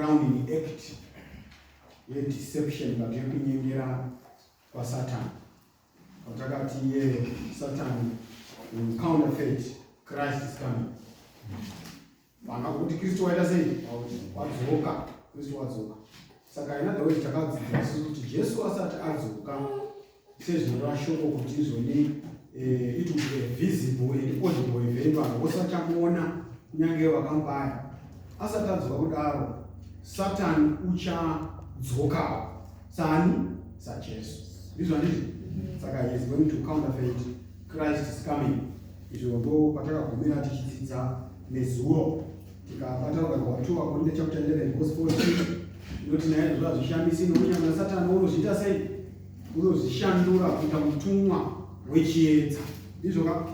crowning act yedeception but yekunyengera kwasatan kwatakati ye satan will counterfeit christ is coming vanga kuti kristu waita sei wadzoka kristu wadzoka saka ina the way takadzidzira susu kuti jesu asati adzoka sezvinoreva shoko kuti izvoni eh, it will be a visible and audible event vanhu vose vachamuona kunyange vakambaya asati anzwa kudaro satani uchadzokawo sani sajesu ndizvo handizvo saka he is going to counterfeit christ is coming izvo ndo patakagumira tichidzidza nezuro tikabata rugano rwato vakorinda chapter 11 verse 14 inoti naye zvoda zvishamisi nokunyama satani unozviita sei unozvishandura kuita mutumwa wechiedza ndizvo ka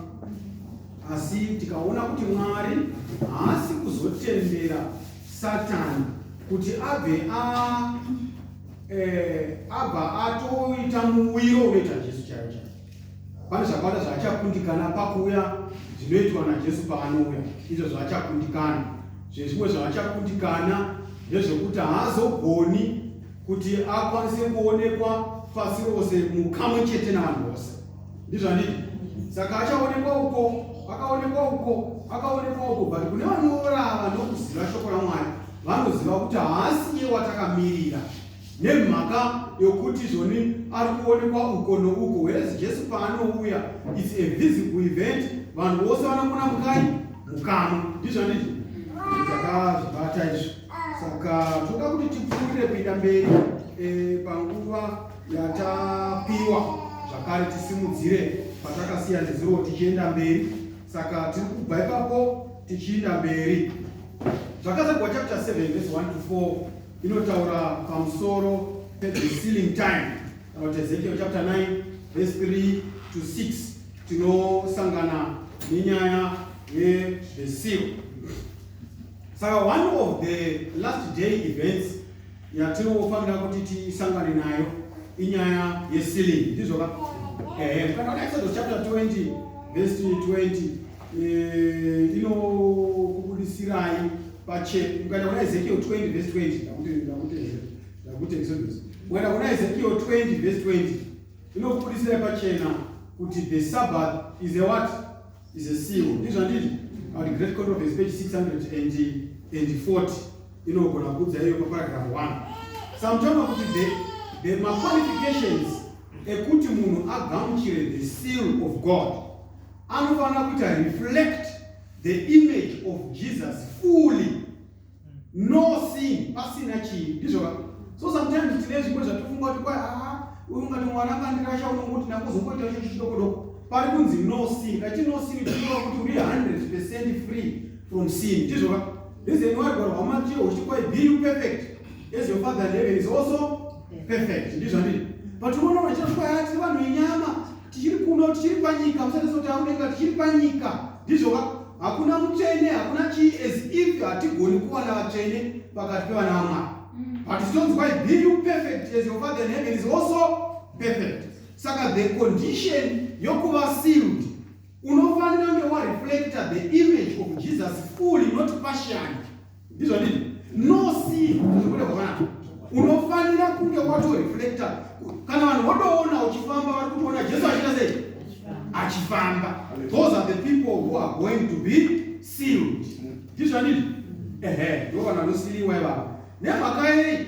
asi tikaona kuti mwari haasi kuzotendera satani kuti abve a eh, abva atoita muwiro unoita jesu chaiwo chaiwo pane zvakawanda zvaachakundikana pakuuya zvinoitwa najesu paanouya izvo zvaachakundikana zvezvimwe zvaachakundikana ndezvekuti haazogoni kuti akwanise kuonekwa pasi rose mukamwe chete navanhu vose ndizvandii saka achaonekwa uko akaonekwa uko akaonekwa uko but kune vanorava nokuziva shoko ramwari vanoziva kuti haasi iye watakamirira nemhaka yokuti zvoni ari kuonekwa uko nouko whereas jesu paanouya its a visible event vanhu vose vanokona mukai mukamwe ndizvandii takazvibata izvo saka toda kuti tipfuurire kuita mberi eh, panguva yatapiwa zvakare tisimudzire patakasiya nezuro tichienda mberi saka tiri kubva ipapo tichienda mberi zvakazagwa chapter 7 vese 1 to 4 inotaura pamusoro pethe sealing time kana kuti ezekiel chapter 9 vese 3 to 6 tinosangana nenyaya yezvesiro saka one of the last day events yatinofanira kuti tisangane nayo inyaya yesealing ndizvo ka ehe kana una exodus chapter 20 verse 20 eh, inokubudisirai pache ukaenda kuna ezekiel 20 verse 20 ndakuti exodus ukaenda kuna ezekiel 20 verse 20 inokubudisirai pachena kuti the sabbath is a what is a seal ndizvo handiti but great court of his page 640 inogona kuudza iyo paparagraph 1 samtaura kuti the, the maqualifications ekuti munhu agamuchire the seal of god anofanira kuita reflect the image of jesus fully no sin pasina chinhu ndizvoka so sometimes tine zvimwe zvatofunga kuti kwai aa ah, uyu ungati mwana akandirasha unongoti nakuzokoita icho chidokodoko pari kunzi no sin kati no sin tinova kuti uri 100 percent free from sin ndizvoka reason why gwaro hwamatiyo huchiti kwai be you perfect as your father in heaven is also perfect ndizvandii but unoona chiro kwai ati vanhu inyama tichiri kuno tichiri panyika musati sotaura kudenga tichiri panyika ndizvoka hakuna mutsvene hakuna chii as if hatigoni kuwana vatsvene pakati pevana vamwari mm. but zvitonzwai be you perfect as your father in heaven is also perfect saka the condition yokuva sealed unofanira kunge wareflecta the image of jesus fully not partially ndizvo ndii no see zvekuda kwavana unofanira kunge watoreflecta kana vanhu votoona uchifamba vari kutoona jesu achiita sei achifamba those are the people who are going to be sealed ndizvo ndii ehe ndovanhu vanosiliwa ivavo nemhaka yei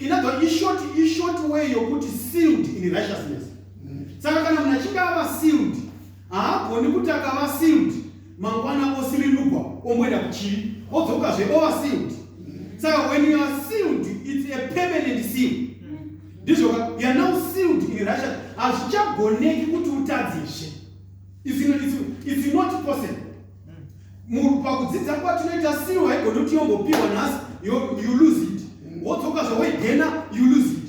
inagwa ishort ishort way yokuti sealed in righteousness saka kana munhu achinge ava sealed haagoni kuti akava sealed mangwana osirinugwa omboenda kuchivi odzokazve ova sealed saka when you are sealed it's a permanent seal ndizvo ka you are now sealed in russia hazvichagoneki kuti utadzizve it's not possible munhu pakudzidza kwatinoita siro haigoni kuti yongopiwa nhasi you lose it wodzoka zvawaigena you lose it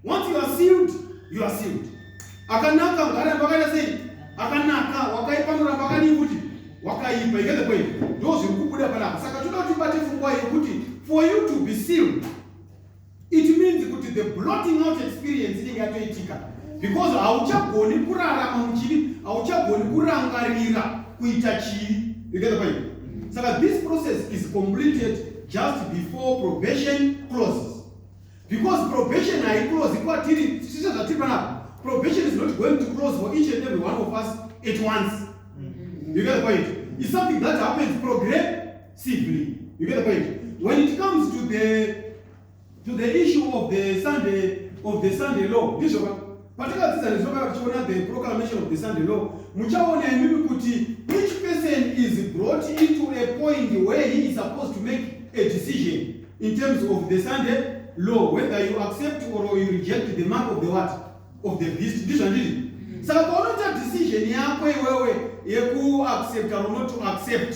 once you are sealed you are sealed akanaka ngara pakaita sei akanaka wakaipanura pakadii kuti wakaipa ikeze kwei ndo zviri kubuda panapa saka toda kuti bate fungwa yekuti for you to be sealed It means kuti the blotting out experience inenge yatoitika because hauchagoni kurarama muchivi, hauchagoni kurangarira kuita chivi. You get the point? Saka this process is completed just before probation closes. Because probation haiclose kwatiri sise zvatiri panapa. Probation is not going to close for each and every one of us at once. You get the point? It's something that happens progress sibling. You get the point? When it comes to the to the issue of the Sunday of the Sunday law, ndizvo ka patakadzidza nezvoka tichiona the proclamation of the Sunday law, muchaona imimi kuti each person is brought into a point where he is supposed to make a decision in terms of the Sunday law whether you accept or you reject the mark of the what of the beast ndizvo ndiri saka paunoita decision yako iwewe yeku accept or not to accept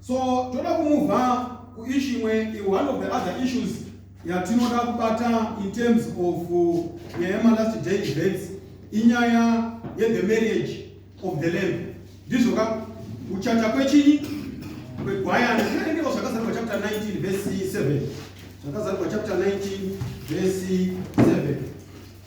so toda kumuvha kuishu imwe one of the other issues yatinoda kubata in terms of uh, nyaya yemalast day events inyaya yethe marriage of the lamb ndizvo ka kuchacha kwechinyi kwegwayana zvinendiko zvakazarwa chapter 19 vese 7 zvakazarwa chapter 19 vese 7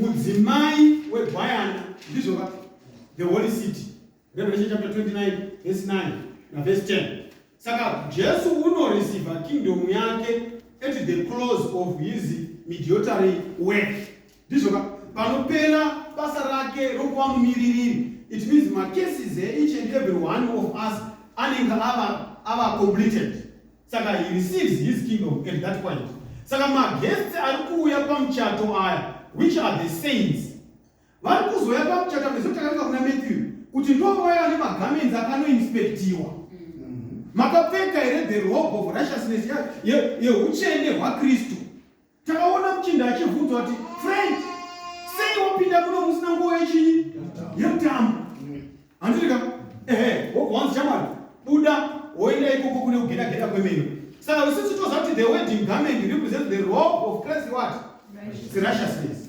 mudzimai webayana ndizvo va the holy city revelation chapter 29 verse 9 naverse 10 saka jesu unoreceiva kingdom yake at the close of his mediotary work ndizvo ka panopera basa rake rokuva mumiririri it means macases each and every one of us anenge ava ava completed Saka he receives his kingdom at that point. Saka maguests ari kuuya pamuchato aya which are the saints vari kuzouya pamuchato nezvo takaringa kuna Matthew kuti ndovaya vane magarments akanoinspectiwa mm-hmm. makapfeka here the robe of righteousness yeuchende hwakristu Takaona muchinda achivhunzwa kuti Frank, sei wapinda kuno musina nguo yechinyi yemutambo? Handiti ka ehe, wobwanzi chamwari buda woenda ikoko kune kugeda geda kwemene. Saka isusu toziva kuti the wedding garment represents the robe of Christ what? Seriousness.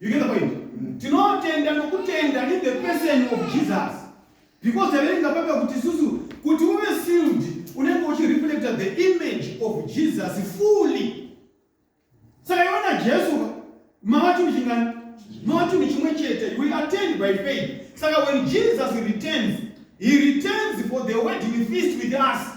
You get the point? Mm. Tinotenda nokutenda in the person of Jesus. Because taverenga papa kuti isusu kuti uve sealed unenge uchireflecta the image of Jesus fully. Saka iona Jesu mava chinhu chingani? Mava chinhu chimwe chete. We attend by faith. Saka when Jesus returns, he returns for the wedding feast with us.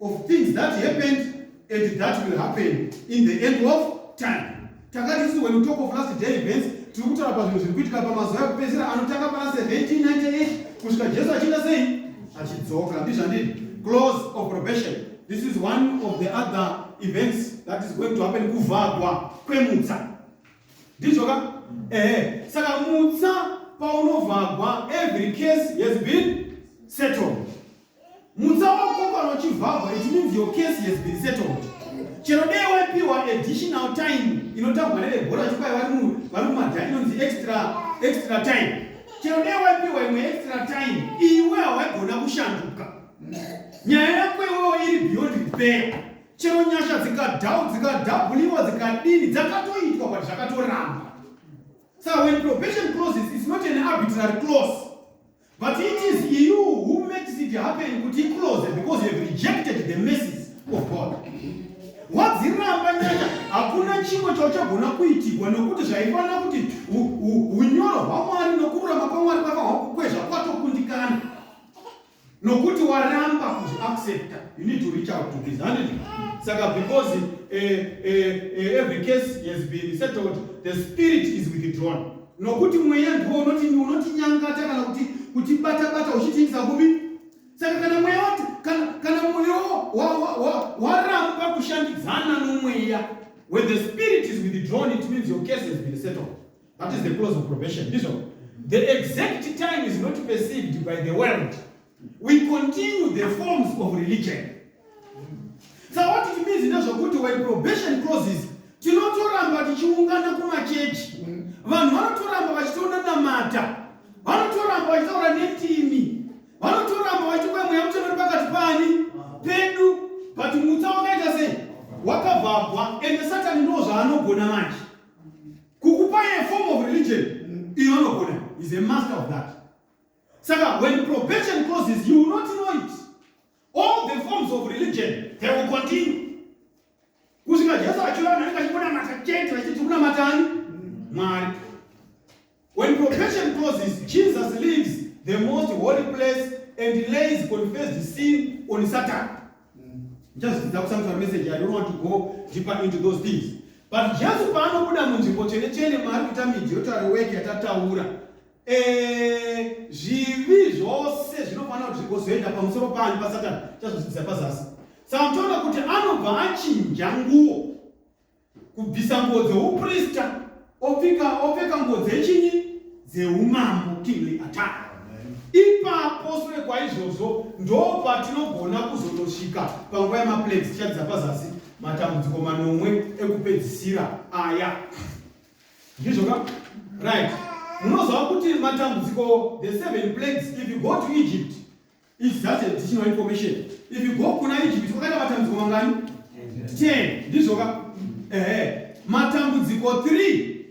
of things that happened and that will happen in the end of time takati isi when we talk of last day events tiri kutaura pazvinhu zviri kuitika pamazuva ekupedzisira anotanga pana 1798 kusvika jesu achiita sei achidzoka ndizvandii close of probation this is one of the other events that is going to happen kuvhagwa kwemutsa ndizvo ka ehe saka mutsa paunovhagwa every case has been settled mutsa wakokwa nochivhagwa it means your case has been settled chero dei waipiwa additional time inotambwa nevebhora chikwai vari mumadha inonzi extra extra time chero dei waipiwa imwe extra time iwe hawaigona kushanduka nyaya yako iwewo iri beyond repair chero nyasha dzikadhau dzikadhabhuliwa dzikadini dzakatoitwa but zvakatoramba sa when probation closes is not an arbitrary close But it is you who makes it happen kuti close because you have rejected the mercies of God. Wadziramba nyaya hakuna chimwe chauchagona kuitigwa nokuti zvaifanira kuti unyoro hwaMwari nokururama kwaMwari kwava hwakukwezva kwatokundikana nokuti waramba kuzvi accepta you need to reach out to this handit saka because uh, uh, uh, every case has been settled the spirit is withdrawn nokuti mweya ndiwo unoti unotinyangata kana kuti kutibata bata uchitiitisa kupi saka kana mweya wati kana kana mwoyo waramba kushandidzana nomweya when the spirit is withdrawn it means your case has been settled that is the close of probation ndizvo the exact time is not perceived by the world we continue the forms of religion so what it means ndezvekuti when probation closes tinotoramba tichiungana kumachechi vanhu vanotoramba vachitoona namata vanotoramba vachitaura netimi vanotoramba vachikuya mweya mucheno ri pakati pani pedu but mutsa wakaita sei wakavhagwa ende satani ndo zvaanogona manje kukupai a form of religion iyo anogona is a master of that Saka when probation closes you will not know it. All the forms of religion they will continue. Kusvika Jesu achiona vanhu vachikunamata chete vachiti kunamatani Mwari. When probation closes Jesus leaves the most holy place and lays confessed sin on Satan. Just that some message I don't want to go deeper into those things. But Jesu paanobuda munzvimbo chene chene maari kuita midyo tari wake yatataura Eh, zvivi zvose zvinofanira kuti zvigozoenda pamusoro panyu pasatani chazvidzidza pazasi saka mutoona kuti anobva achinja nguo kubvisa nguo dzeuprista opfika opfeka nguo dzechinyi dzeumambo kingly attack ipapo sure kwaizvozvo ndopatinogona kuzotosvika panguva yemaplagues tichadzidza pazasi matambudziko manomwe ekupedzisira aya ndizvo ka right munoziva kuti matambudziko the seven plagues if you go to egypt is that additional information if you go kuna egypt kwakaita matambudziko mangani ten ndizvo ka ehe matambudziko three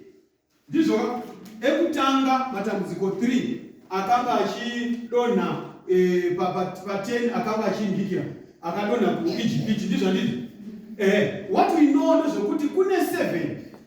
ndizvo ka ekutanga matambudziko three akanga achidonha eh, pa- pa- pa ten akanga achimbikira akadonha kuegypt ndizvo ndizvo ehe what we know ndezvekuti kune seven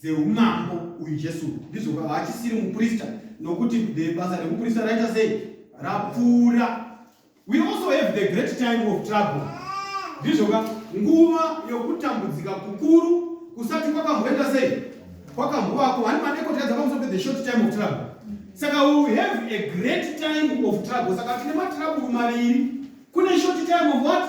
dzeumambo uyu jesu ndizvo haachisiri muprista nokuti basa rekuprista raita sei rapfuura we also have the great time of trouble ndizvo ka nguva yokutambudzika kukuru kusati kwakamboenda sei kwakambovapo hani madekoti kadza pamusoro pe the short time of trouble saka we have a great time of trouble saka tine matrabulu maviri kune short time of what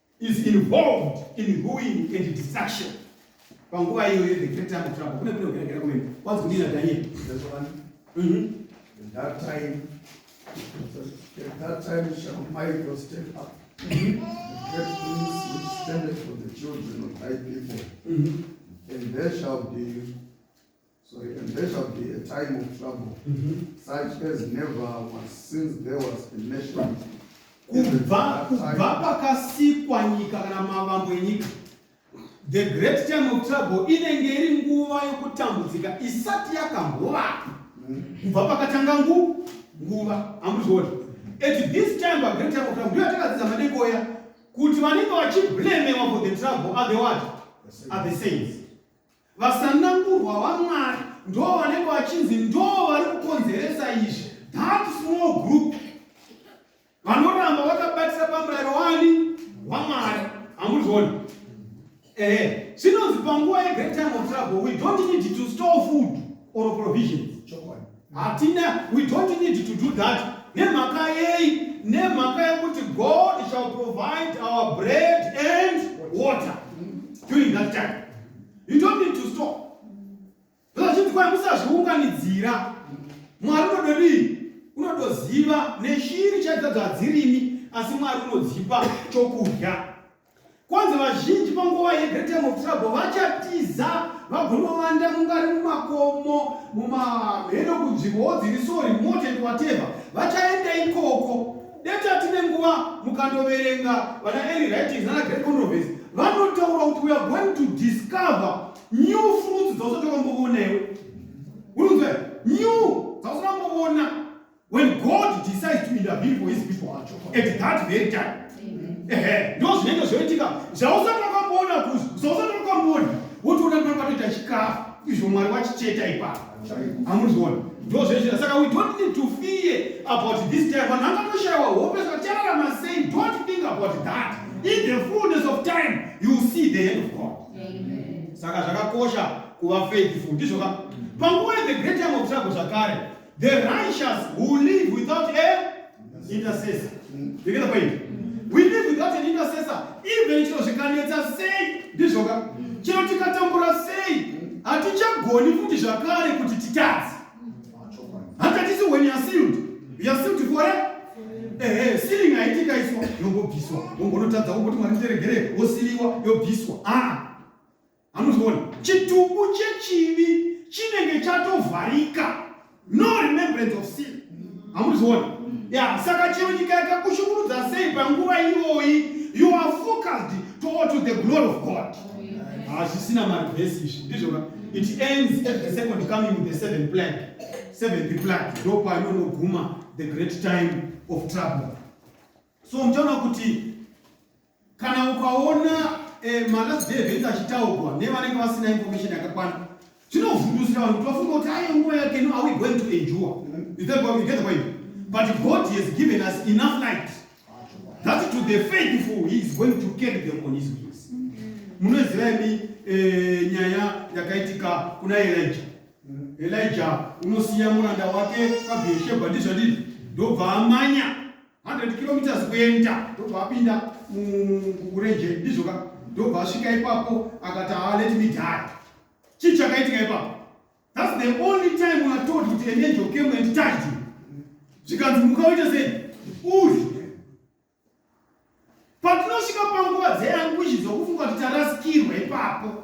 is involved in ruin and destruction panguva iyoyo the great time of trouble kune kune kugeregera kumene kwanzi kudina daniel mhm. at that time at that time shall michael step up mhm. get things which standeth for the children of thy people mhm. and there shall be So and there shall be a time of trouble mm -hmm. such as never was since there was a nation kubva kubva pakasikwa nyika kana mavambo enyika the great time of trouble inenge iri nguva yokutambudzika isati yakambovapo mm. kubva pakatanga ngu nguva amuzviona at this time pa great time of trouble ndiyo atakadzidza madekoya kuti vanenge vachiblemewa for the trouble are the what are the saints Vasanangurwa vaMwari ndoo vanenge vachinzi ndoo vari kukonzeresa izvi. That small group vanoramba vakabatisa pamurayiro wani waMwari. Hamuzvioni? Ehe, zvinonzi panguva yegreat time of trouble we don't need to store food or provisions. Chokwadi. Hatina, we don't need to do that. Nemhaka yei? Nemhaka yekuti God shall provide our bread and water during that time. You don't need to stop. Zvazhinji kwai musazviunganidzira. Mwari unododii? Unodoziva neshiri chaidzo dzadzirimi asi Mwari unodzipa chokudya. Kwanzi vazhinji panguva yeGreat Time of Trouble vachatiza vagonovanda mungari mumakomo mumamheno kunzvimbowo dziri so remote and whatever vachaenda ikoko deta tine nguva mukandoverenga vana early writings nana great controversy vanotaura kuti we are going to discover new fruits dzausati wakambovonawo unonzwa new dzausati wamboona When God decides to intervene for his people at that very time. Ehe, ndo zvinenge zvoitika zvausati wakamboona kuzvi zvausati wakamboona wotoona kuti panoita chikafu izvo Mwari wachicheta ipapo. Amuzviona. Ndo zvezvira saka we don't need to fear about this time. Vanhu vangatoshayiwa hope zvakati chararama sei. Don't think about that. In the fullness of time you will see the hand of God. Saka zvakakosha kuva faithful ndizvo ka. Panguva the great time of trouble zvakare The righteous who live without a intercessor. You get the point? We live without an intercessor. Even chiro zvikanetsa sei ndizvo ka chiro tikatambura sei hatichagoni futi zvakare kuti titadze. Hatatisi when you are sealed. You are sealed for a ehe siling haitika iswa yongobviswa wongonotadza womboti mwari ndiregere wosiliwa yobviswa aa ah. Hamuziona, chitumbu chechivi chinenge chatovharika, no remembrance of sin. Hamuziona, ya saka chero nyika yakakushungurudza sei panguva iyoyi, you are focused toward to the glory of God. Hazvisina ah, marivhesi izvi, ndizvo ka it ends at the second coming of the seventh plague, seventh plague ndopainonoguma the great time of trouble. So mchaona kuti kana ukaona eh, malast day events achitaurwa nevanenge vasina information yakakwana zvinovhundusira vanhu kuti vafunga kuti aye nguva yake no are we going to endure you get the point but god has given us enough light that to the faithful he is going to carry them on his wings munoziva imi eh, nyaya yakaitika kuna elija elija unosiya muranda wake pabheshebha ndizvadii ndobva amanya 100 kilometers kuenda ndobva apinda murenje ndizvoka ndobva asvika ipapo akati ah, let me die chii chakaitika ipapo thats the only time watold kuti an angel came and tied you zvikanzi mukaoita sei uyu patinosvika panguva dzeanguishi dzokufunga kuti tarasikirwa ipapo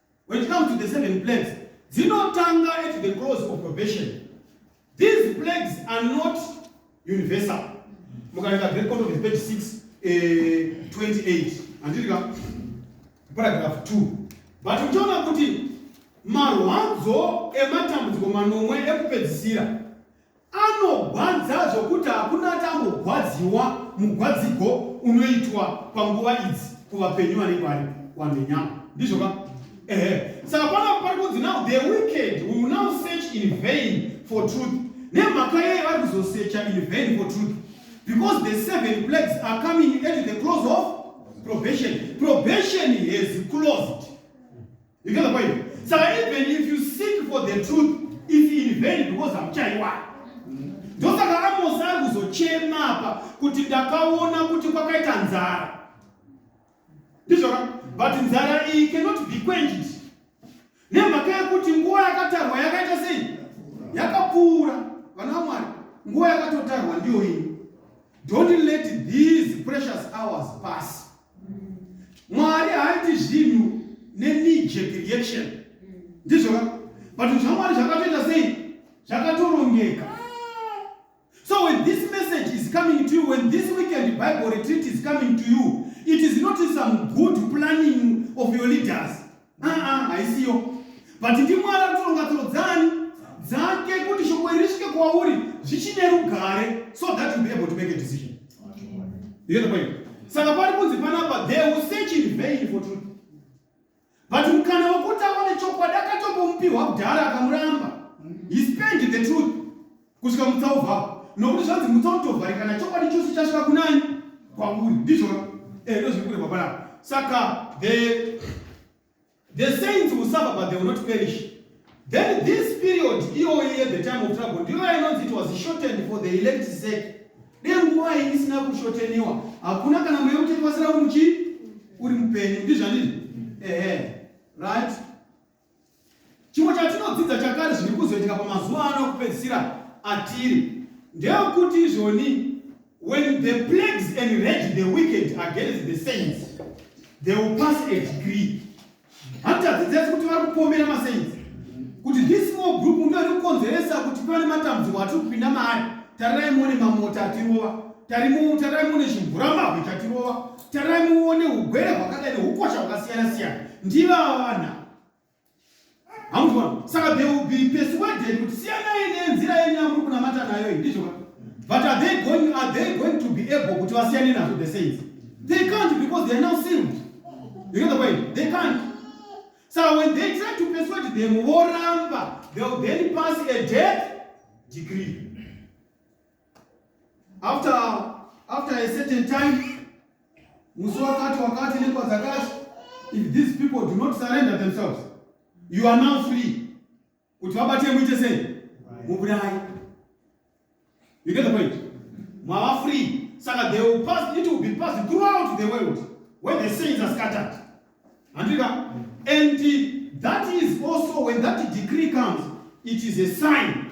when it comes to the seven plagues dzinotanga at the close of probation these plagues are not universal mukaenda great court of page 6 eh, 28 andirika paragraph 2 but uchiona kuti marwadzo ematambudziko manomwe ekupedzisira Anogwadza zvokuti hakuna atambogwadziwa mugwadzigo unoitwa panguva idzi kuvapenyu vanenge vari wamhenyama ndizvo ka ehe saka pano pari kunzi now the wicked will now search in vain for truth nemhaka yei vari kuzosecha in vain for truth because the seven plagues are coming at the close of probation probation has closed You get the point? So even if you seek for the truth, it's in vain because I'm chaiwa. ndosaka amosi ari kuzochema apa kuti ndakaona kuti kwakaita nzara ndizvoka but nzara iyi cannot be quenched nemhaka yekuti nguva yakatarwa yakaita sei yakapfuura vana vamwari nguva yakatotarwa ndiyo iyi don't let these precious hours pass mwari haaiti zvinhu nenijek reaction ndizvo ka but zvamwari zvakatoita sei zvakatorongeka so when this message is coming to you when this weekend bible retreat is coming to you it is not some good planning of your leaders aa haisiyo but ndimwari anotoronga tsoro dzani dzake kuti shoko iri risvike kwauri zvichine rugare so that you be able to make a decision saka pari kunzi panapa they will search in vain for truth but mukana wekuti aone chokwadi akatombomupiwa kudhara akamuramba he spent the truth kusvika mutsa uvhava nokuti zvanzi mutsa utovharikana chokwadi chose chasvika kunani kwauri ndizvona eh, ndo zviri kureva panapa saka the the saints will suffer but they will not perish then this period iyoyi at the time of trouble ndiyo yainonzi it was shortened for the elect sake dei nguva iyi isina kushoteniwa hakuna kana mweya uchekuvasira uri muchi uri mupenyu ndizvandizvo ehe right Chimwe chatinodzidza chakare zviri kuzoitika pamazuva ano okupedzisira atiri ndeyokuti izvoni when the plagues enrage the wicked against the saints they will pass a degree hatitadzi dzese kuti vari kupomera masainzi kuti this small group ndo iri kukonzeresa kuti pane matambudziko atiri kupinda maari tarirai muone mamota atirova tarirai muone zvimvuramabwe chatirova Tarai muone ugwere hwakadai nehukosha hwakasiyana siyana ndivavana hamuzvona saka they will be persuaded kuti siyanai nenzira yenyu yamuri kunamata nayo iyi ndizvoka but are they going, are they going to be able kuti vasiyane nazvo the saints they can't because they are now sealed you get the point they can't so when they try to persuade them voramba they will then pass a death decree after after a certain time musi wakati wakati nenguva dzakati if these people do not surrender themselves you are now free kuti vabate muite sei muburai you get the point mava free saka they will pass it will be passed throughout the world when the saints are scattered handika and that is also when that decree comes it is a sign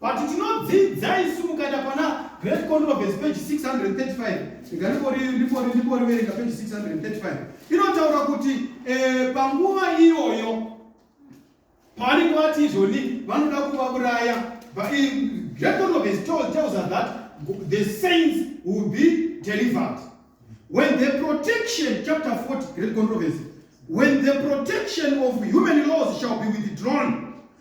But tinodzidza isu mukaenda pana Great Controversy page 635 rega ndingoriverenga page 635 inotaura kuti eh, panguva iyoyo pavanenge vati izvoni vanoda kuvauraya Great Controversy tells us that the saints will be delivered when the protection chapter 40 Great Controversy when the protection of human laws shall be withdrawn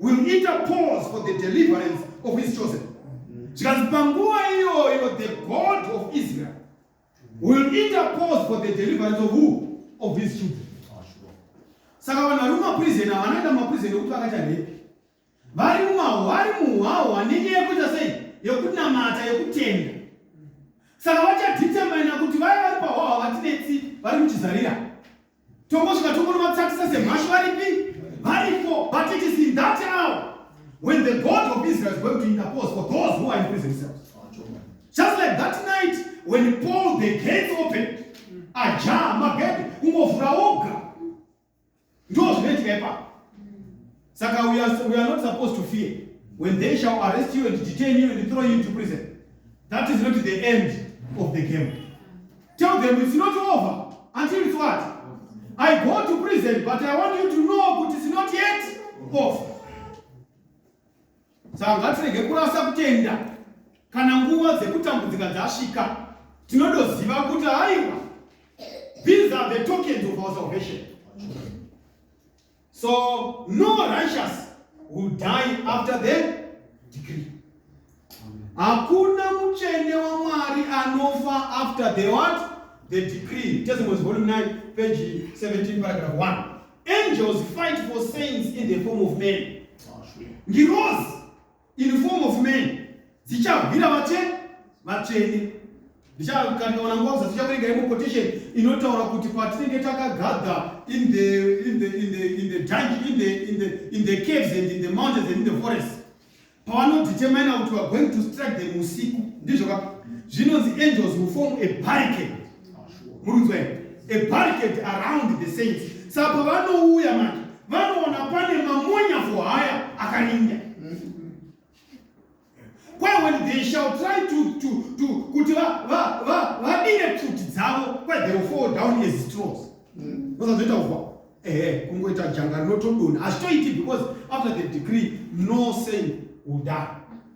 will interpose for the deliverance of his chosen zvikanzi panguva iyoyo the god of israel will interpose for the deliverance of who of his children saka vanhu vari mumaprison havanoenda mumaprison ekuti vakaita repi vari mumahwari muhwahwa nenyaya yekuita sei yekunamata yekutenda saka vachadhitemana kuti vaya vari pahwahwa vatinetsi vari kuchizarira Tongosvika tongonovatsatisa semhashu varipi? Varipo, but it is in that hour when the God of Israel is going to interpose for those who are in prison cells. Just like that night when Paul the gates opened, aja magede kungovhura oga. Ndozvinoitika ipapo. Saka we are, we are not supposed to fear when they shall arrest you and detain you and throw you into prison. That is not the end of the game. Tell them it's not over until it's what? I go to prison, but I want you to know that it's not yet over. Saka ngatirege kurasa kutenda kana nguva dzekutambudzika dzasvika tinodoziva kuti haiwa these are the tokens of our salvation So no righteous will die after the decree. Hakuna mutsvene waMwari anofa after the what? The decree. Testimonies volume 9 page 17 paragraph 1. Angels fight for saints in the form of men. Ngirozi in form of men dzichahwira vache vatsvene ndichakanoona nguva kuza tichakuregai muquotation inotaura kuti patinenge takagadha in the in the in the in the dungeon in the in the in the caves and in the mountains and in the forest pavanodetermina kuti weare going to strike them usiku ndizvo ka zvinonzi angels will form a barricade murunzwei a barricade around the saints saka pavanouya manje vanoona pane mamonya for haya akarinda kwaye when they shall try to, to, to kuti vadire pfuti dzavo kwaye they will fall down as straws osazoita mm. kuva ehe kungoita janga rinotodona hazvitoiti because after the degree no saint will die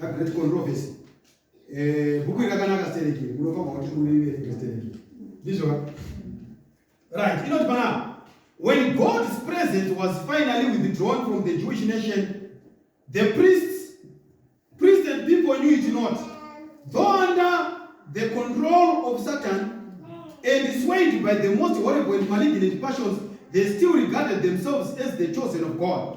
That great controversy. Eh, bhuku iri rakanaka stereki iri unofanirwa kuti uiverenge stereki ndizvoka right inoti panapa when god's presence was finally withdrawn from the jewish nation the priests priests and people knew it not though under the control of satan and swayed by the most horrible and malignant passions they still regarded themselves as the chosen of god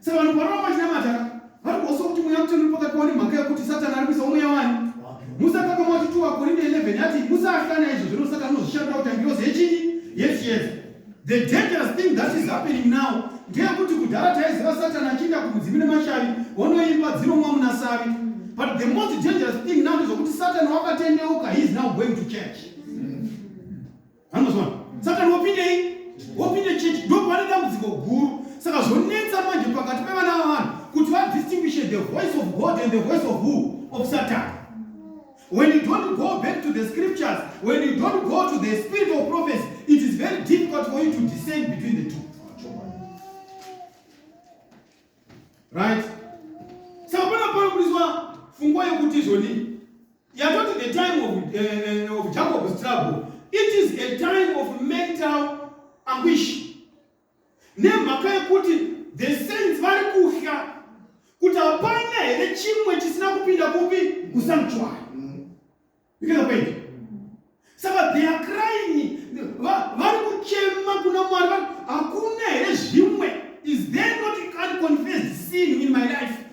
Saka vanhu panoramba vachinamata vari kuhoswa kuti mweya mutsvene uri pakati pavo nemhaka yekuti Satani ari kuisa umweya wani. Musa akapa mati 2 Akorinde 11 yati Musa ahlana izvo zvino Satani unozvishandira kuti angirozi yechinyi? Yechiyedza. The dangerous thing that is happening now ndeyekuti kudhara taiziva Satani achiinda kumudzimu nemashavi onoimba dzinomwa muna savi. But the most dangerous thing now ndezvokuti Satani wakatendeuka he is now going to church. anozona saka ndopindei wopinde church ndopane dambudziko guru saka zvonetsa manje pakati pevana vavanhu kuti vadistinguishe the voice of god and the voice of who of satan when you don't go back to the scriptures when you don't go to the spirit of prophecy it is very difficult for you to discern between the two right saka pana panoburiswa fungwa yekuti izvonii Yatoti the time of, uh, of Jacob's trouble. It is a time of mental anguish. Nemhaka yekuti the saints vari kuhya kuti hapana here chimwe chisina kupinda kupi kusanctuary. Mm. You get the point? Saka they are crying, vari kuchema kuna Mwari, hakuna here zvimwe? Is there not an confessed sin in my life?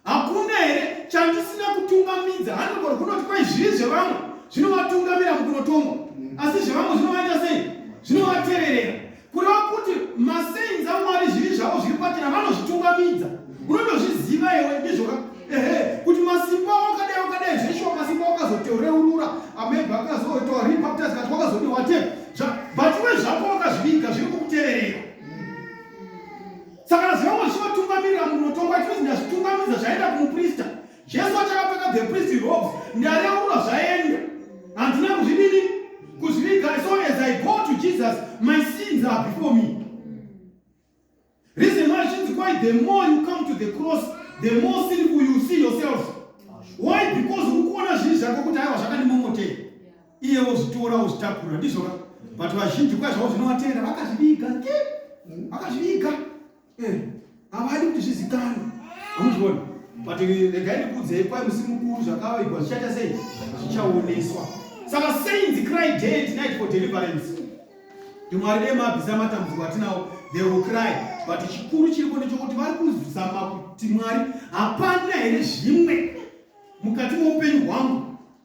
Hakuna here chandisina kutungamidza? Hanogona kunoti kwai zvivi zvevamwe zvinovatungamira mukunotongwa, asi zvevamwe zvinovaita sei? Zvinovateverera. kureva kuti masainzi amwari zvivi zvavo zviri pachena vanozvitungamidza unotozviziva iwe ndizvoka ehe kuti masimba wakadai wakadai zveshuwa masimba wakazotoreurura amaibi akazoitawa repaptas kati wakazodi whatever but iwe zvako wakazviviga zviri kukutererera saka zvavo zvichivatungamirira munotongwa chinozi ndazvitungamidza zvaenda kumuprista Jesu achakapfeka the priest robes ndareurura zvaenda. Handina kuzvidini kuzviviga so as I go to Jesus my sins are before me. Reason why sins why the more you come to the cross the more sinful you see yourself. Why because ukuona zvinhu zvako kuti aiwa zvakandimomotei. Iye wozvitora wozvitakura ndizvo ka. But vazhinji kwazvavo zvinovatera vakazviviga. Vakazviviga. eh, havadi kuti zvizikanwe hamuzviona but regai ndikuudzei kwai musi mukuru zvakavaigwa zvichaita sei zvichaoneswa saka sainzi cry day tonight for deliverance ndimwari dei mabvisa matambudziko atinawo they will cry but chikuru chiripo ndechokuti vari kuzama kuti mwari hapana here zvimwe mukati moupenyu hwangu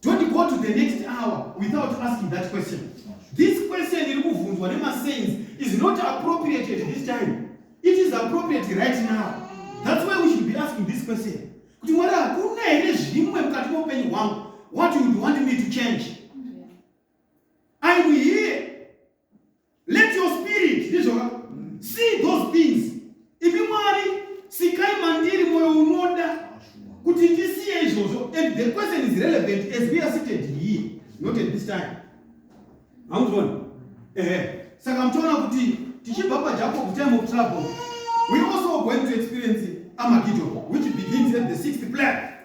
Don't go to the next hour without asking that question. This question iri kuvhunzwa nemasains is not appropriate at this time. It is appropriate right now. That's why we should be asking this question. Kuti mwari hakuna here zvimwe mukati meupenyu hwangu what you would want me to change? I'm here. Let your spirit ndizvoka see those things. Imi Mwari sikai mandiri moyo unoda kuti ndisiye izvozvo and the question is relevant as we are seated here not at this time. Hamuzvoni? Ehe. Saka mtoona kuti tichibva paJacob time of trouble we also going to experience Armageddon which begins at the sixth plague.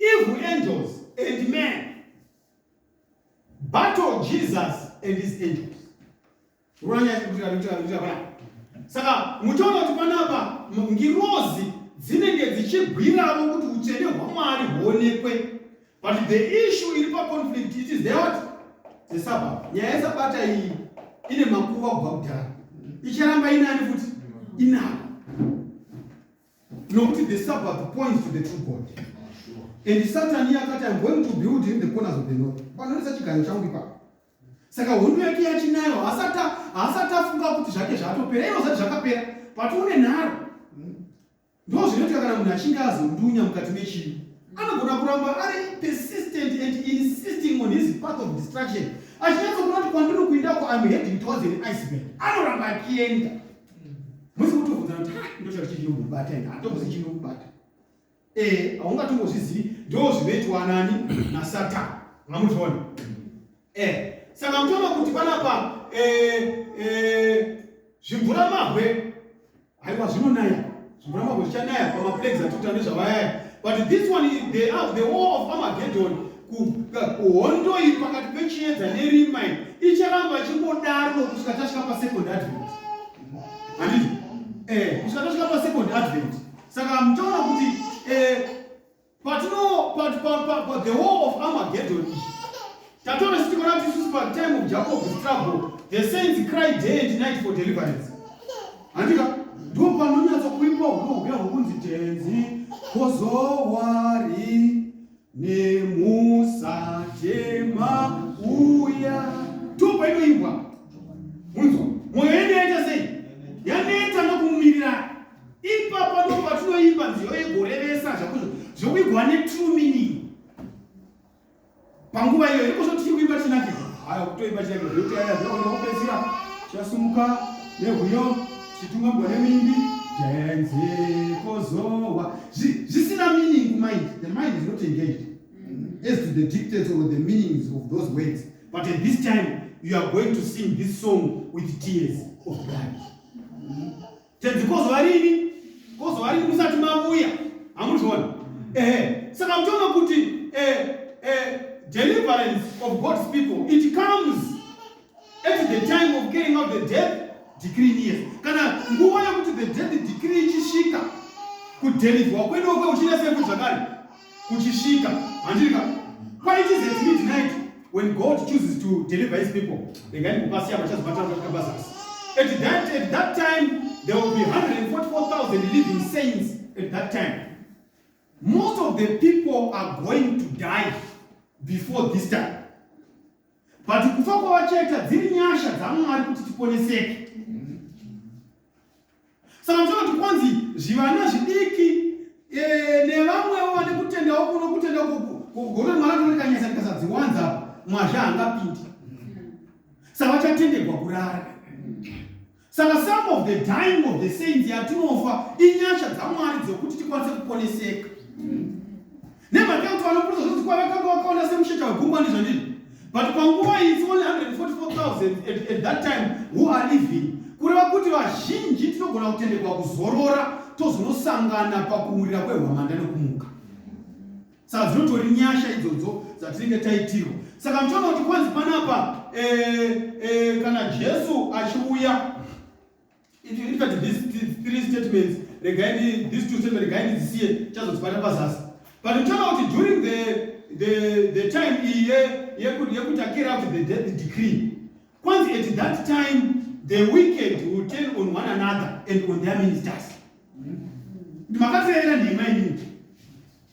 Evil angels and men battle Jesus and his angels. Saka muchaona kuti panapa ngirozi dzinenge dzichigwiravo kuti utsvene hwamwari huonekwe but the issue iri paconflict it is theot the sabbat nyaya yesabata iyi ine makuva kubva kudhara icharamba inani futi inako nokuti the sabbath points to the true god and satani akati im going to build in the corners of the north panoisa chiganyo changu ipapo saka hondo yake yachinayo haasati afunga kuti zvake zvatopera ivo zvati zvakapera but une nharo ndo zvinoitika kana munhu achinge azondunya mukati mechii anogona kuramba ari persistent and insisting on his path of distraction achinyatsokuna kuti kwandiri kuindako im heading towards an iceberg anoramba akienda musi kutobvunza kuti ha ah, ndotsvaka chii chinokubata ina hatombozi chinokubata eh haungatongozvizivi ndo zvinoitwa nani nasatan ungamuzviona eh saka mutoona kuti panapa eh, eh, zvimvura mahwe haiwa zvinonaya Mvura mambo zvichanaya pamaplagues atuta nezvavayaya but this one they are the war of Armageddon hondo iyi pakati pechiedza nerima iyi icharamba chingodaro kusvika tasvika pasecond advent handiti eh kusvika tasvika pasecond advent saka muchaona kuti eh Patino pa, pa, pa, pa the war of Armageddon iyi tatoona kuti tikona kuti isusu pa time of Jacob's trouble the saints cry day and night for deliverance. Handika ndipo panonyatsa kuimba hunohuya hwokunzi tenzi kozowari nemusatema uya ndipo painoimbwa munzwa mwoyo yedu yaita sei yaneta nokumirira ipapa ndipo patinoimba nziyo yegorevesa zvakuzvo zvekuigwa netrue meaning panguva iyoyo ikozvo tichiri kuimba chinake haya kutoimba chinake zvotiaya zvaonekupedzisira chasumuka nehuyo chitunga mugore mimbi tenzekozowa zvisina meaning kumind the mind is not engaged as to the dictates or the meanings of those words but at this time you are going to sing this song with tears of blood Tenzi kozova rini? Kozova rini musati mavuya? Hamuzviona? Ehe. Saka muchiona kuti eh, eh, deliverance of God's people, it comes at the time of carrying out the death decree near. Kana nguva yokuti the death decree ichisvika, kudelivhwa kwedu kweuchina seku zvakare. kuchisvika handirika why it is at midnight when god chooses to deliver his people regai ndikupasiya vachazobatana kusvika pazasi at that, at that time there will be 144000 living saints at that time most of the people are going to die before this time but kufa kwavacheta dziri nyasha dzamwari kuti tiponeseke Saka muchiona kuti kwanzi zvivana zvidiki eh, nevamwewo vane kutendawo kuno kutenda kugona kuti mwana tone kanyasa ndikasadziwanza apo mwazha hangapindi saka vachatendegwa kurara saka some of the dying of the saints yatinofa inyasha dzamwari dzokuti tikwanise kuponeseka Nemhaka yekuti vanopurisa zvinonzi kwave kwanga wakaona semusheta wegungwa ndizvandizvo but panguva iyi it's only 144000 at, at that time who are living kureva kuti vazhinji tinogona kutendekwa kuzorora tozonosangana pakuwurira kwehwamanda nekumuka saka dzinotori nyasha idzodzo dzatinenge taitirwa saka muchiona kuti kwanzi panapa e, e, kana jesu achiuya If you look at these three statements, regai these two statements, regai ndidzisiye chazotibata pazasi. But you turn out during the, the, the time iye yekutakira out the death decree. Once at that time, the wicked will turn on one another and on their ministers. Ndimakateera nhema inini.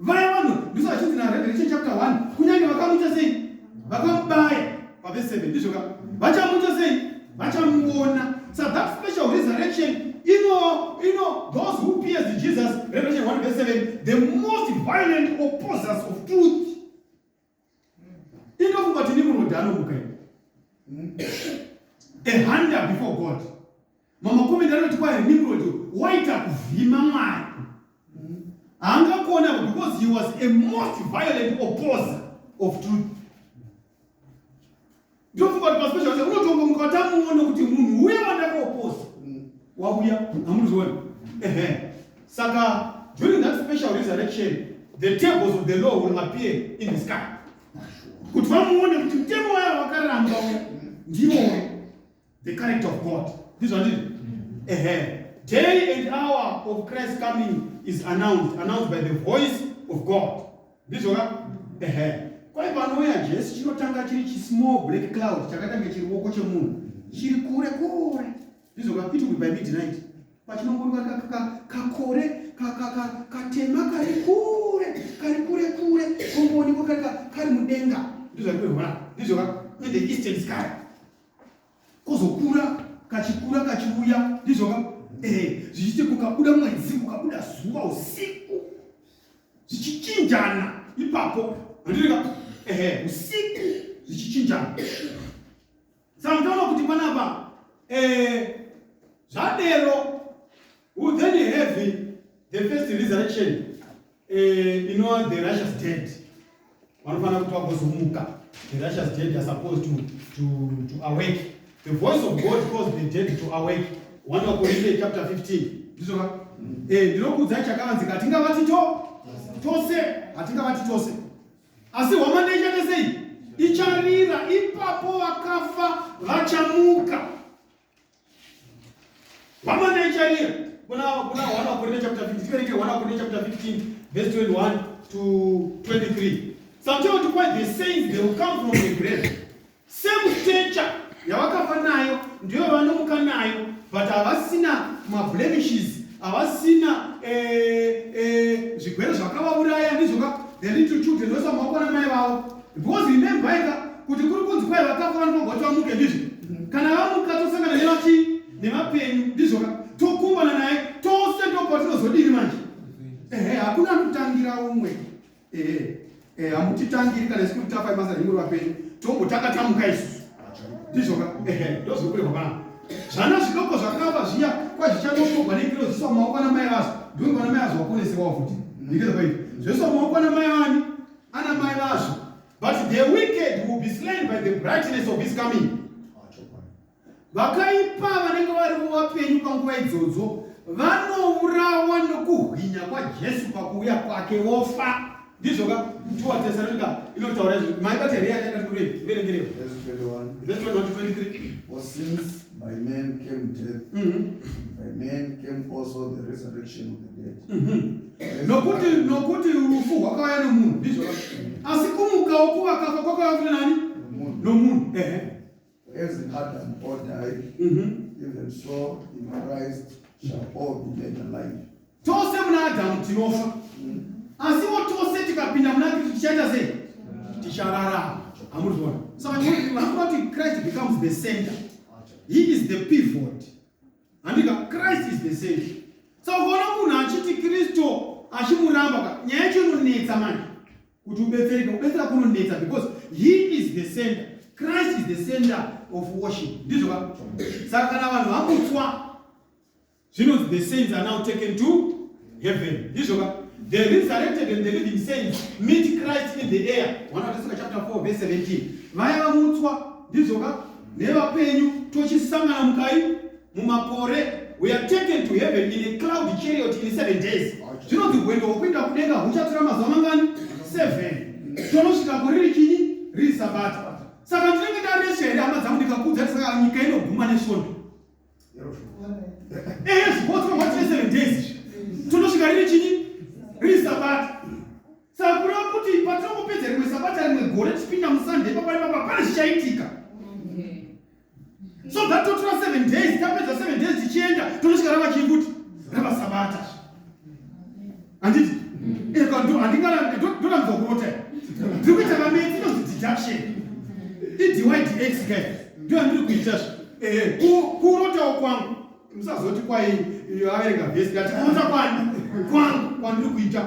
Vaya vanhu ndiso vachinzi naRevelation chapter 1 kunyange vakamuita sei? Vakamubaya pavese 7 ndizvo ka? Vachamuita sei? Vachamuona. So that special resurrection, you know, you know, those who pierced Jesus, Revelation 1 verse 7, the most violent opposers of truth inofunga kuti ndimunodhano mukaini a hunter before god mama komenda anoti kwaye nimrod waita kuvhima mwari haangakuona because he was a most violent opposer of truth Ndofunga kuti paspecial action unotongomuka watamuona kuti munhu uya wandakaoposa wauya hamuzviona. Ehe. Saka during that special resurrection the tables of the law will appear in the sky. Kuti vamuone kuti mtemo waya wakaramba uya ndiwo the character of God. Ndizvo andizvo. Ehe. Day and hour of Christ coming is announced, announced by the voice of God. ndizvona ehe kwai panouya jesu chinotanga chiri chismall black cloud chakaita nge chiruoko chemunhu chiri kure kure ndizvona it will be by midnight pachinongoruka kakore katema kari kure kari kure kure kongoonekwa kari mudenga ndizvakuri hona ndizvona in the eastern sky kozokura kachikura kachiuya ndizvo ka eh zvichiti kukabuda mwedzi kukabuda zuva usiku zvichichinjana ipapo handiri ka eh usiku zvichichinjana saka ndaona kuti panapa eh zvadero will then have the first resurrection Eh, inova the russias dead vanofanira kuti vagozomuka the russias dead are supposed to, to, to awake the voice of god calls the dead to awake one wakorinte chapter 15 ndizoka mm. eh, ndinokuudzai chakavanzika hatingavati to tose hatingavati tose asi hwamanda ichatesei icharira ipapo vakafa vachamuka vamanechania kuna kuna wana kurine chapter 15 tikereke wana kurine chapter 15 verse 21 to 23 sometimes to quite the saints they will come from the grave same stature yavakafa nayo ndiyo vanomuka nayo but havasina mablemishes havasina eh, eh, zvigwere zvakavauraya ndizvoka the little children vese vamakuona mai vavo Because remember ika kuti kuri kunzi kwai vakafa vanofanirwa kuti vamuke ndizvo. Kana vamuka tosangana nevachi nevapenyu ndizvo ka tokumbana naye tose ndopatinozodini manje. Ehe hakuna anotangira umwe. Ehe. Eh hamutitangiri kana isu tafa ibasa remuri vapenyu tombotanga tamuka isu. Ndizvo ka ehe ndozvokurehwa pana. Zvana zvidoko zvakafa zviya kwazvichanokogwa nekirozi zviswa maoko ana mai vazo. Ndongo ana mai vazo waponesewa futi. Ndikeza kwaiti. Zveswa maoko ana mai vani. ana mai vazvo but the wicked will be slain by the brightness of his coming vakaipa vanenge vari vapenyu panguva idzodzo vanourawa nokuhwinya kwajesu pakuuya kwake wofa ndizvo ka tuwa tesaronika inotaura izvi maibati here yatakatikure verengerewa By man came death, mm -hmm. by man came also the resurrection of the dead. Mm -hmm. nokuti nokuti rufu rwakauya nomunhu ndizvo asi kumukawo kuvakafa kwakauya kuti nani nomunhu ehe as adam all died mm -hmm. even so in christ shall all be made alive tose muna adamu tinofa mm. asiwo tose tikapinda muna kristu tichaita sei tichararama amuzviona saka vanoti christ becomes the center he is the pivot handika christ is the same so ukaona munhu achiti kristu achimuramba ka nyaya yacho inonetsa manje kuti ubetsereke kubetsera kunonetsa because he is the center christ is the center of worship ndizvo ka saka kana vanhu vamutswa zvinonzi the saints are now taken to heaven ndizvo ka the resurrected and the living saints meet christ in the air wana teseka chapter 4 verse 17 vaya vamutswa ndizvo ka nevapenyu tochisangana mukai mumakore we are taken to heaven in a cloud chariot in seven days zvinonzi hwendo hwokuenda kudenga huchatora mazuva mangani seven tonosvika kuriri chinyi riri sabata saka ndinenge ndaresha here hama dzangu ndikakudza saka nyika inoguma nesvondo ehe zvibotswa matine seven days tonosvika riri chini riri sabata saka kureva kuti patinongopedza rimwe sabata rimwe gore tichipinda musunday papa ipapa pane zvichaitika so that totora seven days tapedza seven days tichienda tonosvika rava chii kuti rava sabata handiti ndorambiza kurota ndiri kuita mametsi inonzi deduction idydx kai ndo yandiri kuita zve eh, kurotawo kwangu musazoti kwai averenga vhesi ngati kurota kwani kwangu kwandiri kuita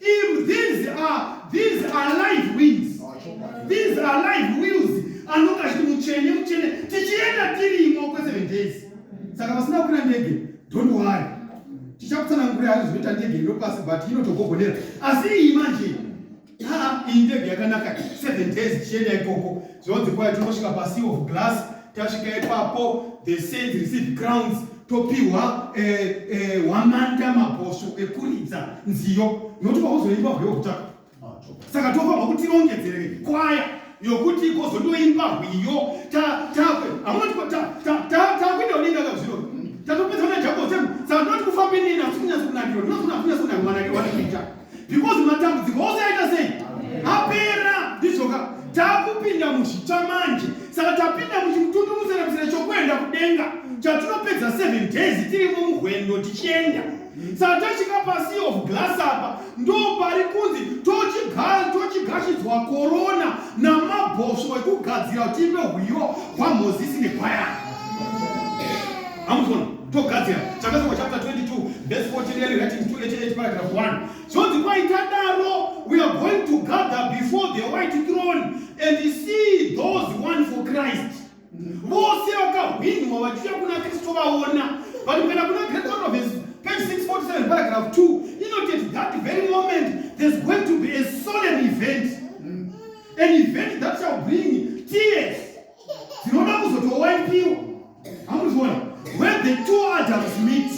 Im, these are, these are live wings. These are live wheels. Anonga achiti muchene muchene tichienda tirimo kwe 7 days. Saka vasina kukwira ndege, don't worry. Tichakutsanangurira hari zvinoita ndege ino pasi but inotogogonera. Asi iyi manje haa iyi ndege yakanaka 7 days tichienda ikoko. Zvinonzi kwai tinosvika pasi of glass tasvika ipapo the saints receive crowns topiwa eh, eh, hwamanda mabhosvo ekuridza nziyo nokuti vakuzoimba hwe wekutaka saka tofanirwa kuti tirongedzere kwaya yokuti ikozondoimba hwiyo takuenda udenga kazviro tatopedza najakosem saka tinoti kufambe neni asi kunyaso kunakiro ndinokunakunyasonamwanake wanakuita because matambudziko ose aita sei apera ndizvoka takupinda muzvitsva manje saka tapinda muchimutundu museremusere chokuenda kudenga chatinopedza seven days tirimo muhwendo tichienda saka tasvika pasi of glass apa ndo pari kunzi tochigashidzwa korona namabhosvo ekugadzira kuti ive hwiyo hwamozisi nekwayana amuzona togadzira chakasikwa chapter 22 verse 14 yari writing 288 paragraph 1 zvonzi kwaita daro we are going to gather before the white throne and see those one for christ vose vakahwinwa vachiuya kuna kristu vaona but kana kuna great province page 647 paragraph 2 inoteti that very moment there's going to be a solemn event an event that shall bring tears dzinoda kuzotowapiwa hamuzviona when the two adams meet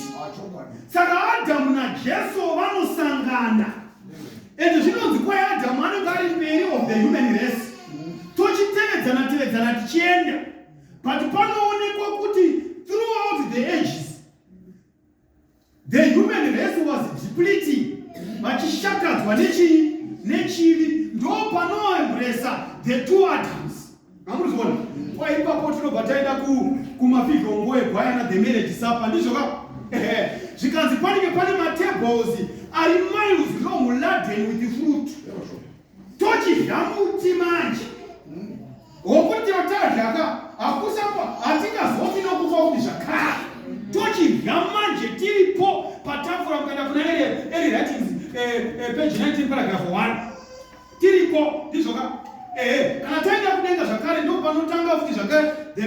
saka adamu najesu vanosangana ende zvinonzi kwai adamu anenge ari mberi of the human race tochitevedzana tevedzana tichienda but panoonekwa kuti throughout the ages The human race was depleting vachishakadzwa nechii nechivi ndo panoembresa the two adams amurizoona kwa ipapo tinobva taenda kumafigongo egwayana the marriage supper ndizvo ka ehe zvikanzi panenge pane matables ari miles long laden with fruit tochidya muti manje wokuti tazvaka hakusapa hatingazofi nokufa kuti zvakare tochidya manje tiripo patafura kuenda kuna eri ratings eh, eh, page 19 paragraph 1 tiriko ndizvoka ehe kana taenda kudenga zvakare ndopanotanga futi zvakare the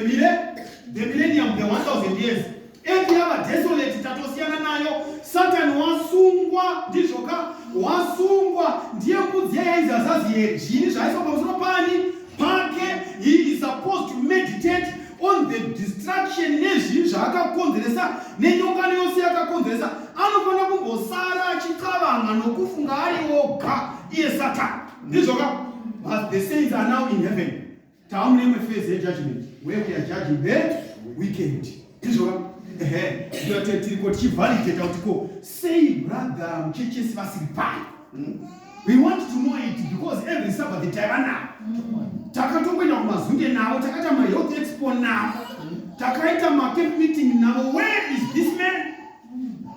millennium the 1000 years Earth yava desolate, tatosiyana nayo. Satan wasungwa, ndizvo ka? Wasungwa ndiye mbudzi yainzi Azazieri. Zviini zvaiiswa pamusoro pani pake? He is supposed to meditate on the destruction nezvinhu zvaakakonzeresa nenyongano yose yakakonzeresa. Anofanira kumbosara achixavanga nokufunga ari oga iye Satan. Ndizvo ka? But the saints are now in heaven. Tava mune imwe phase yejudgment where we are judging the weekend. Izvova ehe ndiyo tiri ko tichivalidata kuti ko sei brother muchechesi vasiri pai hmm? we want to know it because every sabbath taiva navo hmm. takatomboenda kumazunge navo takaita mahealth expo navo hmm. takaita macamp meeting navo where is this man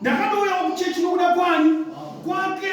ndakatouyawo kuchechi nokuda kwani kwake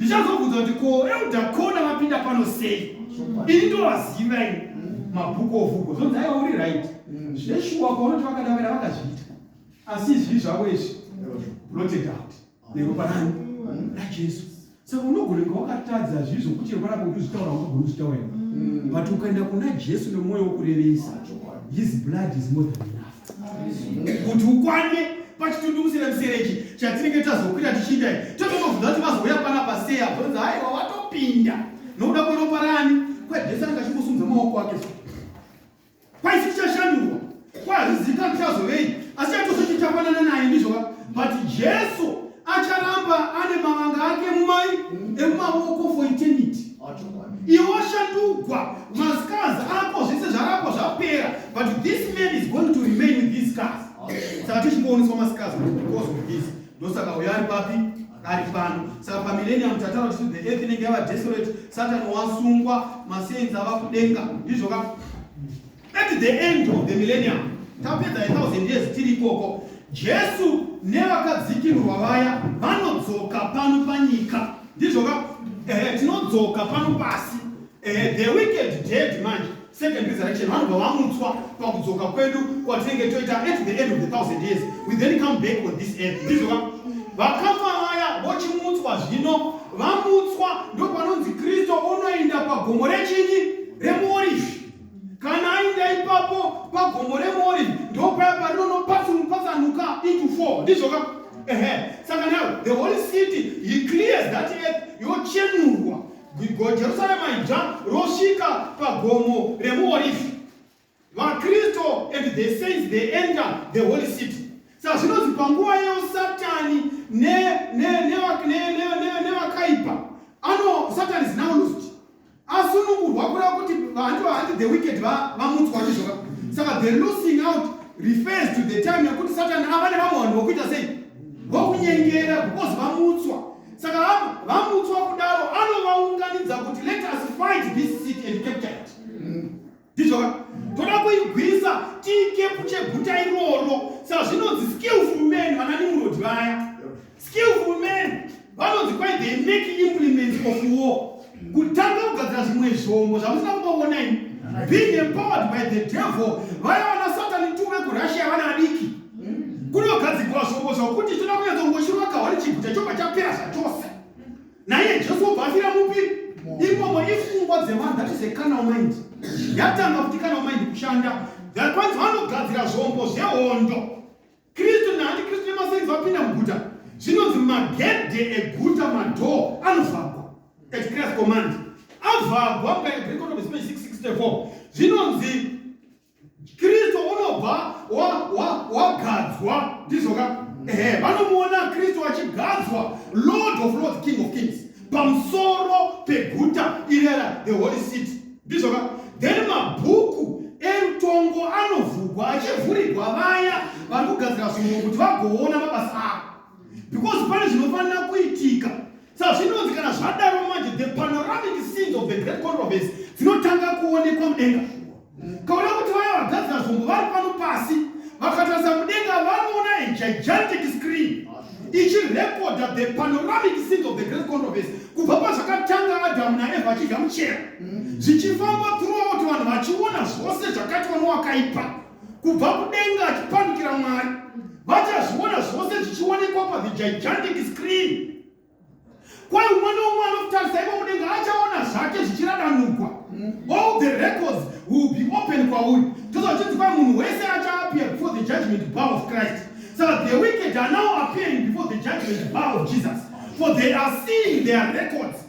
ndichazobvunza kuti ko elda kona vapinda pano sei ini ndovaziva ini mabhuku ovugo zvonzi aiwa uri right mm. zveshuwa kwaunoti vakadavira vakazviita asi izvi zvavo izvi blotted out neropa rani rajesu saka unogona kunge wakatadza zvivi zvokuti rwara kukuzvitaura unogona kuzvitaura mm. but ukaenda kuna jesu nemwoyo wokurevesa his blood is more than enough kuti ukwane pachitundi kusina muserechi chatinenge tazokwira tichiita totozobvunza kuti vazouya pana paseya vonzi haiwa watopinda nokuda kweropa rani kwejesu anenge achingosunza maoko ake kwaisi tichashandurwa kwazvizivi kuti azovei asi chatoso chichafanana naye ndizvova but jesu acharamba ane mavanga ake mumai emumavoko for eternity iwo ashandugwa mascars ako zvese zvarapwa zvapera but this man is going to remain with these scars saka tichingooniswa mascars because of this ndosaka uyo ari papi ari pano saka pamillennium tatara kuti the earth inenge yava desolate satan wasungwa masains ava kudenga ndizvo ka At the end of the millennium, tapedza a thousand years tiri ikoko, Jesu nevakadzikirwa vaya vanodzoka pano panyika. Ndizvoka eh, tinodzoka pano pasi. Eh, the wicked dead manje second resurrection vanobva vamutswa pakudzoka kwedu kwatinenge toita at the end of the thousand years we then come back on this earth ndizvoka vakafa vaya vochimutswa zvino vamutswa ndopanonzi kristu unoenda pagomo rechinyi remuorifi kana ainda ipapo pagomo remori ndopaya parinonopatsanuka into four ndizvoka ehe saka now the holy city he clears that earth yochenurwa jerusalema idzva rosvika pagomo remuorifi vakristu and the saints they enter the holy city saka zvinonzi panguva yeyo satani nevakaipa ano satani is now lost asunungurwa kureva kuti vanhu vahandi the wicked vamutswa ndizvoka saka the losing out refers to the time yekuti satani ava nevamwe vanhu vokuita sei vokunyengera because vamutswa saka vamutswa kudaro anovaunganidza kuti let us fight this city and capture it ndizvo ka toda kuigwisa tiikepu cheguta iroro sazvinonzi skillful men vana nimurodi vaya skillful men vanonzi kwai they make implements of war kutanga kugadzira zvimwe zvombo zvamusina kumboona ini being empowered by the devil vaya vana satani tu vekurussia vana adiki kunogadzirwa zvombo zvokuti toda kunyatsongoshirwa kahwari chiguta chobva chapera zvachose naye jesu obva afira mupi imomo ifungwa dzevanhu that is a canal mind yatanga kuti canal mind kushanda kwanzi vanogadzira zvombo zvehondo kristu naanti kristu nemasenzi vapinda muguta zvinonzi magedhe eguta madhoo anovhagwa at christ command avhagwa mukaibrikonobe 664 zvinonzi Kristu unobva wagadzwa wa, wa ndizvo ka ehe vanomuona Kristu achigadzwa Lord of Lords King of Kings pamusoro peguta irera the holy city ndizvo ka then mabhuku erutongo anovhugwa achivhurigwa vaya vari kugadzira zvinhu kuti vagoona mabasa avo because pane zvinofanira kuitika Sazvinonzi kana zvadaro manje the panoramic scenes of the great controversy dzinotanga kuonekwa mudenga shuwa. Kaona kuti vaya vagadzira zvombo vari pano pasi vakatarisa mudenga vanoona a gigantic screen ichirekodha the panoramic scenes of the great controversy kubva pazvakatanga Adamu naEva vachidya muchero zvichifamba throughout vanhu vachiona zvose zvakaitwa nowakaipa. kubva kudenga achipandukira mwari vachazviona zvose zvichionekwa pathe gigantic screen kwai umwe neumwe anotarisa ivo mudenga achaona zvake zvichiradanugwa all the records will be open kwauri tozvachinzi kwai munhu wese achaappear before the judgment bar of christ so the wicked are now appearing before the judgment bar of jesus for they are seeing their records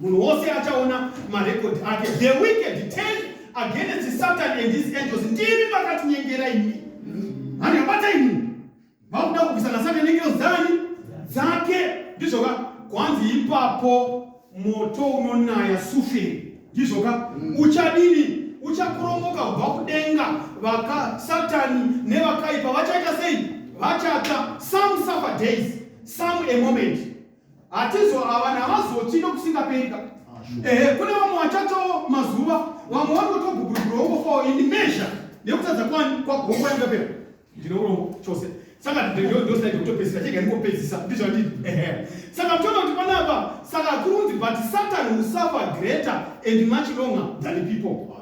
Munhu wose achaona marecord ake. The wicked turn against Satan and his angels. Ndimi makatinyengera imi. Hani yabata imi. Vakuda kubvisa na Satan nengero dzani? Dzake. Ndizvoka kwanzi ipapo moto unonaya sufe. Ndizvoka mm. uchadini? Uchakurongoka kubva kudenga. Vaka Satan nevakaipa vachaita sei? Vachatsva. Some suffer days, some a moment. hatizoavana havazoti nokusingaperika ah, ehe kune vamwe vachatawo mazuva vamwe vari kutogugurugura wongofawo ini mezha nekutadza kwani kwagongo yangapera ndine urombo chose saka ndosai kutopedzisa chega ndingopedzisa ndizvo ndii ehe saka toona kuti panapa saka kurunzi but satan usafa greater and much longer than people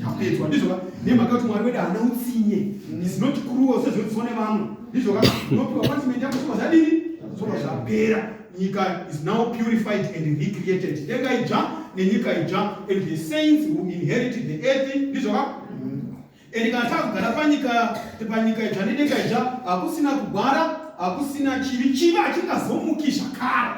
chapedzwa ndizvoka nemhaka kuti mwari wedu haana utsinye is not cruel sezvinotiswa nevamwe ndizvoka unopiwa punishment yako zvobva zvadini zvobva zvapera nyika is now purified and recreated denga idzva nenyika idzva and the saints who inherited the earth ndizvoka and kana takugara panyika panyika idzva nedenga idzva hakusina kugwara hakusina chivi chivi hachingazomuki zvakare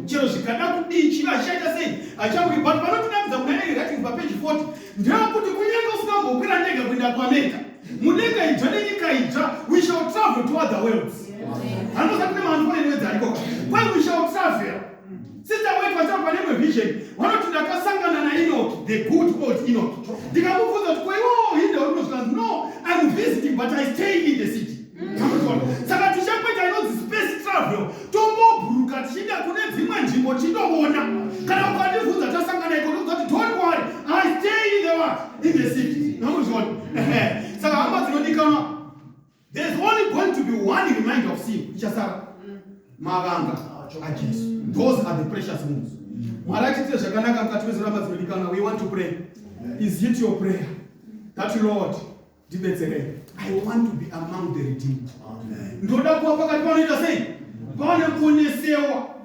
chero zvikada kudii chivi hachichaita sei hachamuki but panotinakidza kuna eri ratings papeji 40 ndeyekuti kunyange usingambokwira ndega kuenda kwaamerica mudenga idzva nenyika idzva we shall travel to other worlds hanosa kune maanfoenewedzi ariko kwai we shall travel Sister wake vachava pane imwe vision vanoti ndakasangana nainoki the good old inoki ndikamubvunza kuti kwaiwawo hinde warinozvikanzi no im visiting but i stay in the city saka tichakuita inonzi space travel tomboburuka tichiinda kune dzimwe nzvimbo tichitoona kana ukandibvunza tasangana iko ndokuza kuti don't worry i stay in the, in the city namuzviona saka hama dzinodikanwa There's only going to be one reminder of sin. Ichasara. Mavanga. Ajesu. Those are the precious ones. Mwari achitite zvakanaka mukati mezoramba dzinodikana. We want to pray. Is it your prayer? That Lord, ndibetserei. I want to be among the redeemed. Ndoda kuva pakati panoita sei? Pane kunesewa.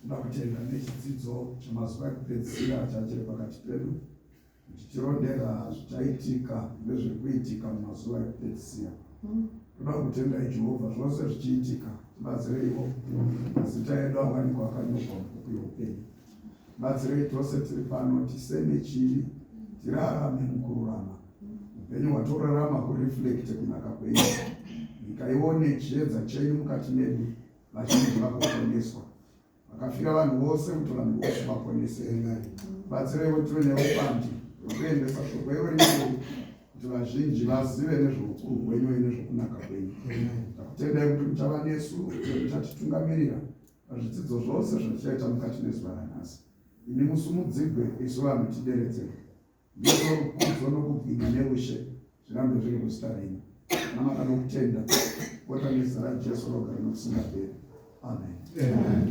Tinoda kutenda nechidzidzo chemazuva ekupedzisira chachiri pakati pedu kuti tirondera zvichaitika nezvekuitika mumazuva ekupedzisira. Tinoda kutendai Jehovha zvose zvichiitika, tibatsireiwo mazita edu awanikwa akanyorwa mubhuku youpenyu. Batsirei tose tiri pano tiseme chivi, tirarame mukururama upenyu hwatorarama kureflekte kunaka kwenyu nyika ione chiedza chenyu mukati medu vazhinji vakuponeswa vakafira vanhu vose kuti vanhu vose vaponese enai batsireiwo tive neupandi hwekuendesa shoko ivo rinei kuti vazhinji vazive nezveukuru hwenyu uye nezvekunaka kwenyu takutendai kuti muchava nesu muchatitungamirira pazvidzidzo zvose zvatichaita mukati nezuva ranhasi imi musumudzigwe isu vanhu tideredzei Ndiko rukudzo nokubwinya neushe zvirambe zviri kuzita renyu. Namata nokutenda, kota nezita raJesu rogara nokusingaperi. Amen.